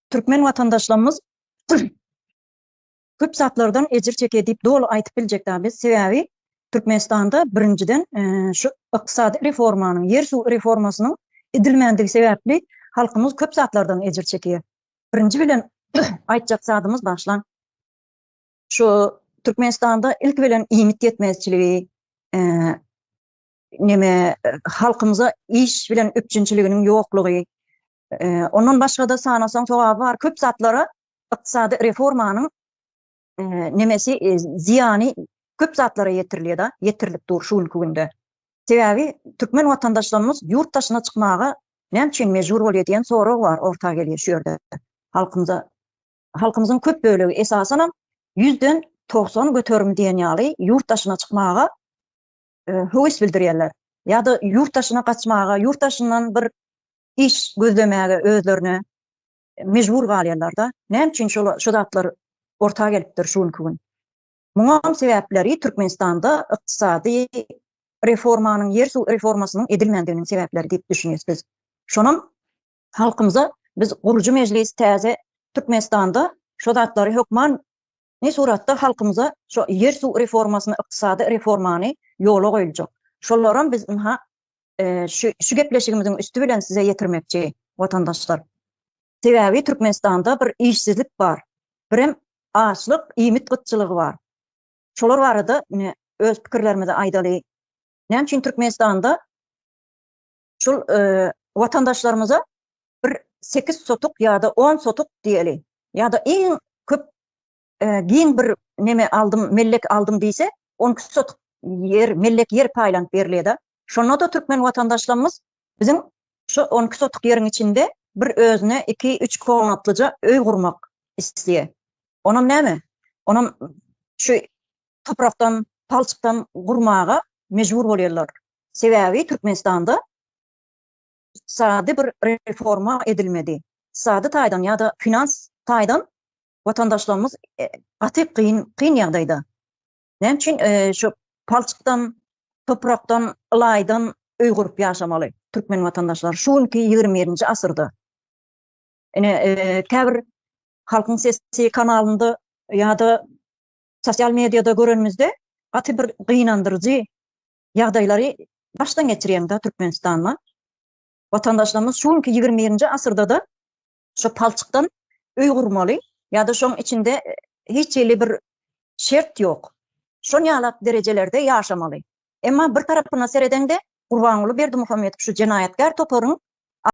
Türkmen watandaşlarymyz köp zatlardan ejir çekýär diýip doly aýtyp biljek däl biz. Sebäbi Türkmenistanda birinjiden e, şu ykdysady reformanyň, ýer suw reformasynyň edilmändigi sebäpli halkymyz köp zatlardan ejir çekýär. Birinji bilen aýtjak zadymyz başlan şu Türkmenistanda ilk bilen iýmit ýetmezçiligi, e, neme halkymyza iş bilen üpjünçiliginiň ýoklugy, Ondan başga-da sanasaň sogaby bar, köp zatlara ykdysady reformanyň nemesi zyýany köp zatlara ýetirilýär-de, ýetirilip dur şu günki günde. Sebäbi türkmen watandaşlarymyz ýurt daşyna çykmaga näme üçin mejbur bolýar diýen sorag bar orta gelýär şu ýerde. Halkymyza, halkymyzyň köp bölegi esasanam ýüzden togsan göterim diýen ýaly ýurt daşyna çykmaga höwes bildirýärler ýa-da ýurt daşyna gaçmaga, ýurt daşyndan bir iş gözlemäge özlerine mejbur galýarlar-da. Näme üçin şol şu zatlar orta gelipdir şu günki gün? Muňam sebäpleri Türkmenistanda ykdysady reformanyň, ýer suw reformasynyň edilmändiginiň sebäpleri diýip düşünýäs biz. Şonam halkymyza biz gurujy mejlis täze Türkmenistanda şu zatlary hökman Nji suratda halkymyza şo ýer suw reformasyny ykdysady reformany ýola goýuljak. Şolaram biz ynha şu şu gepleşigimiziň üsti bilen size ýetirmekçi watandaşlar. Sebäbi Türkmenistanda bir işsizlik bar. Birem açlyk iýmit gytçylygy bar. Şolar barada ine öz pikirlerimizi aýdaly. Näme üçin Türkmenistanda şul watandaşlarymyza bir sekiz sotuk ýa-da on sotuk diýeli, ýa-da iň köp giň bir neme aldym, mellek aldym diýse, on iki sotuk ýer, mellek ýer paýlanyp berilýär-de. Şonda-da türkmen watandaşlarymyz biziň şu on iki sotuk ýeriň içinde bir özüne iki-üç komatlyja öý gurmak isleýär. Onam näme? Onam şu toprakdan, palçykdan gurmaga mejbur bolýarlar. Sebäbi Türkmenistanda ykdysady bir reforma edilmedi. Ykdysady taýdan ýa-da finans taýdan watandaşlarymyz gaty kyn kyn ýagdaýda. Näme üçin şu palçykdan, toprakdan, ylaýdan öý gurup ýaşamaly türkmen watandaşlary şu günki ýigrimi birinji asyrda? Ine, käbir Halkyň sesi kanalynda ýa-da Sosial mediada görenimizde gaty bir gynandyryjy ýagdaýlary başdan geçirýäňda Türkmenistanda. Watandaşlarymyz şu günki ýigrimi birinji asyrdada şu palçykdan öý gurmaly ýa-da şoň içinde hiç hili bir şert ýok. Şon ýalak derejelerde ýaşamaly. Emma bir tarapyna seredeňde Gurbanguly Berdimuhamedow şu jenaýatkär toparyň